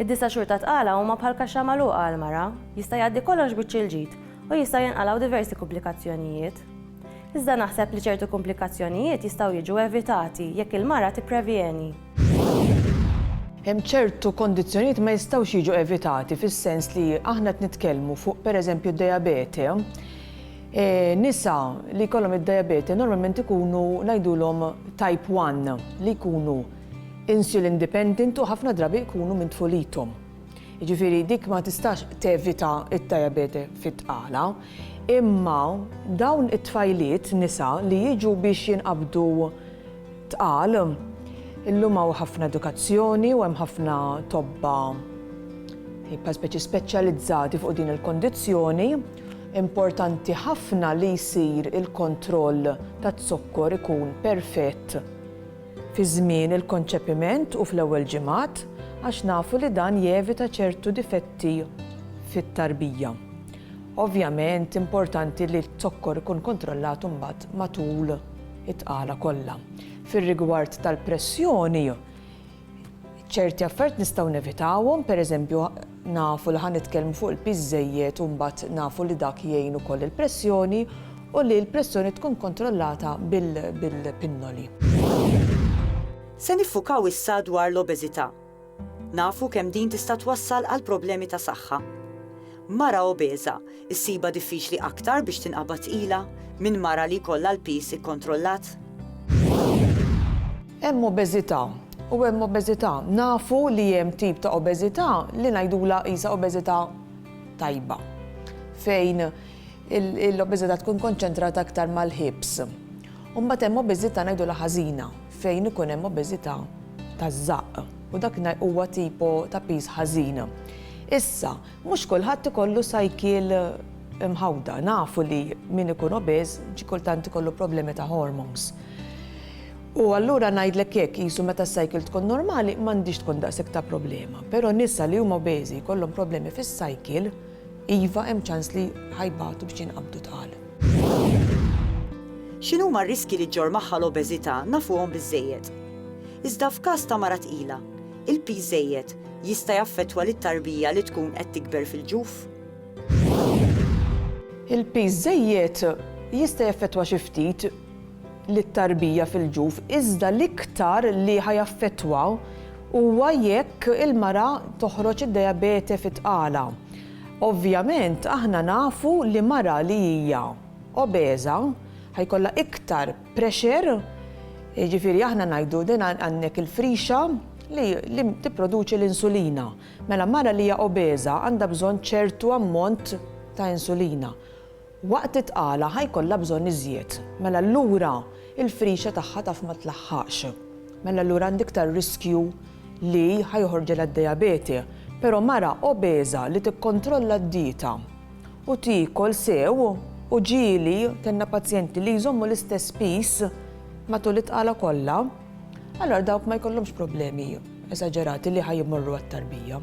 Id-disa' xhur ta' tqala huma bħal kaxxa magħluqa għal mara, jista' jgħaddi kollox biċċ il-ġid u jistgħu jinqalgħu diversi kumplikazzjonijiet. Iżda naħseb li ċertu kumplikazzjonijiet jistgħu jiġu evitati jekk il-mara tipprevjeni. Hemm ċertu kondizzjonijiet ma jistgħux jiġu evitati fis-sens li aħna qed nitkellmu fuq pereżempju d-dejabete. Nisa li jkollhom id-dejabete normalment ikunu ngħidulhom type one li jkunu insulin dependent u ħafna drabi jkunu minn tfulithom. Jiġifieri dik ma tistax tevita d-diabete fit-tqala, imma dawn it-tfajliet nisa li jiġu biex jinqabdu tqal, illum hawn ħafna edukazzjoni u hemm ħafna tobba bħal speċi speċjalizzati fuq din il-kondizzjoni, importanti ħafna li jsir il-kontroll taz-zokkor ikun perfett. fi żmien il-konċepiment u fl-ewwel ġimgħat għax nafu li dan jevita ċertu difetti fit-tarbija. Ovvjament importanti li z-zokkor ikun kontrollat imbagħad matul it-tqala kollha. Fir-rigward tal-pressjoni, ċerti affarijiet nistgħu nevitawhom, pereżempju Nafu li ħa nitkellmu fuq il-piż żejjed u mbagħad nafu li dak jgħin ukoll il-pressjoni u li l-pressjoni tkun kontrollata bil-pinnoli. Se niffukaw issa dwar l-obeżità. Nafu kemm din tista' twassal għal problemi ta' saħħa. Mara obeża Issibha diffiċli aktar biex tinqabad tqila minn mara li jkollha l-piż ikkontrollat? Hemm obeżità u hemm obeżità. Nafu li hemm tip ta' obeżità li ngħidulha qisha obeżità tajba, fejn l-obeżità tkun konċentrata aktar mal-hips. U mbagħad hemm obeżità ngħidulha ħażina, fejn ikun hemm obeżità taż-żaqq u dak huwa tipo ta' piż ħażin. Issa, Mhux kulħadd ikollu cycle imħawda. Nafu li min ikun obese xi kultant ikollu problemi ta' hormones. U allura ngħidlek hekk, qisu meta s-cycle tkun normali m'għandhiex tkun daqshekk ta' problema. Però nisa li huma obeżi jkollhom problemi fis-cycle, iva hemm ċans li ħa jbatu biex jinqabdu tqal. X'inhuma r-riskji li ġġorr magħha l-obeżità nafuhom biżżejjed. Iżda f'każ ta' mara tqila, Il-piż żejjed jista' jaffettwa lit-tarbija li tkun qed tikber fil-ġuf? Il-piż żejjed jista' jaffettwa xi ftit lit-tarbija fil-ġuf iżda l-iktar li ħa jaffettwaw huwa jekk il-mara toħroġ id-diabete fit-tqala. Ovvjament aħna nafu li mara li hija obeża ħa jkollha iktar pressure, jiġifieri aħna ngħidu din għandek il-frixa li tipproduċi l-insulina. Mela mara li hija obeża għandha bżonn ċertu ammont ta' insulina. Waqt it-tqala ħa jkollha bżonn iżjed. Mela allura il-frixa tagħha taf ma tlaħħaqx. Mela allura għandi iktar riskju li ħa joħorġilha d-dijabete. Però mara obeża li tikkontrolla d-dieta u tiekol sew u ġieli kellna pazjenti li jżommu l-istess piż matul it-tqala kollha, allura dawk ma jkollhomx problemi esaġerati li ħa jmorru għat-tarbija.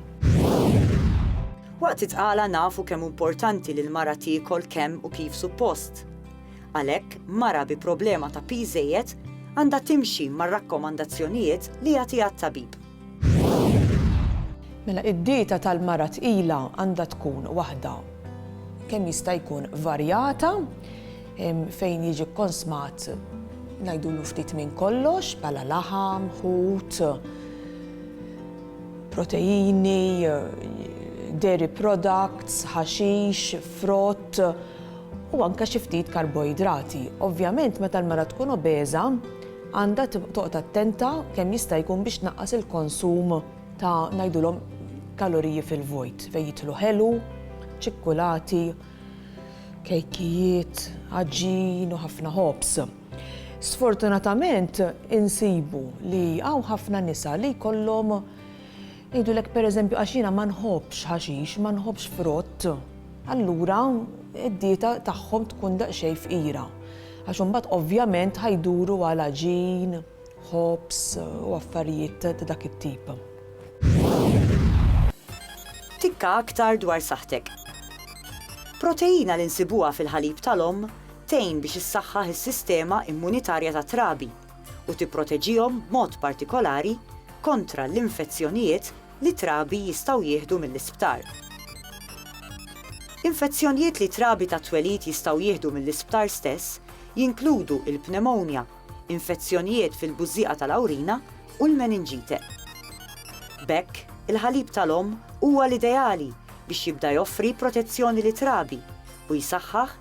Waqt it-tqala nafu kemm hu importanti li l-mara tiekol kemm u kif suppost. Għalhekk, mara bi problema ta' piż żejjed għandha timxi mar-rakkomandazzjonijiet li jagħtiha t-tabib. Mela id-dieta tal-mara tqila għandha tkun waħda kemm jista' jkun varjata fejn jiġi kkonsmat ngħidulu ftit minn kollox bħala laħam, ħut, proteini, dairy products, ħaxix, frott u anke xi ftit karboidrati. Ovvjament meta l-mara tkun obeża, għandha toqgħod attenta kemm jista' jkun biex tnaqqas il-konsum ta' ngħidulhom kaloriji fil-vojt fejn jidħlu ħelu, ċikkulati, kejkijiet, għaġin u ħafna ħobż. Sfortunatament insibu li hawn ħafna nisa li jkollhom Jgħidulek pereżempju għax jiena ma nħobbx ħaxix, ma nħobbx frott, allura d-dieta tagħhom tkun daqsxejn fqira. Għax imbagħad ovvjament ħa jduru għal għaġin, ħobż u affarijiet ta' dak it-tip. Tikka aktar dwar saħħtek. Proteina li nsibuha fil-ħalib tal-omm tgħin biex issaħħaħ is-sistema immunitarja tat-trabi. u tipproteġihom b'mod partikolari kontra l-infezzjonijiet li t-trabi jistgħu jieħdu mill-isptar. Infezzjonijiet li trabi tat-twelid jistgħu jieħdu mill-isptar stess jinkludu l-pneumonia, infezzjonijiet fil-bużżieqa tal-awrina u l-meninġite. B'hekk, il-ħalib tal-omm huwa l-ideali biex jibda joffri protezzjoni lit-trabi u jsaħħaħ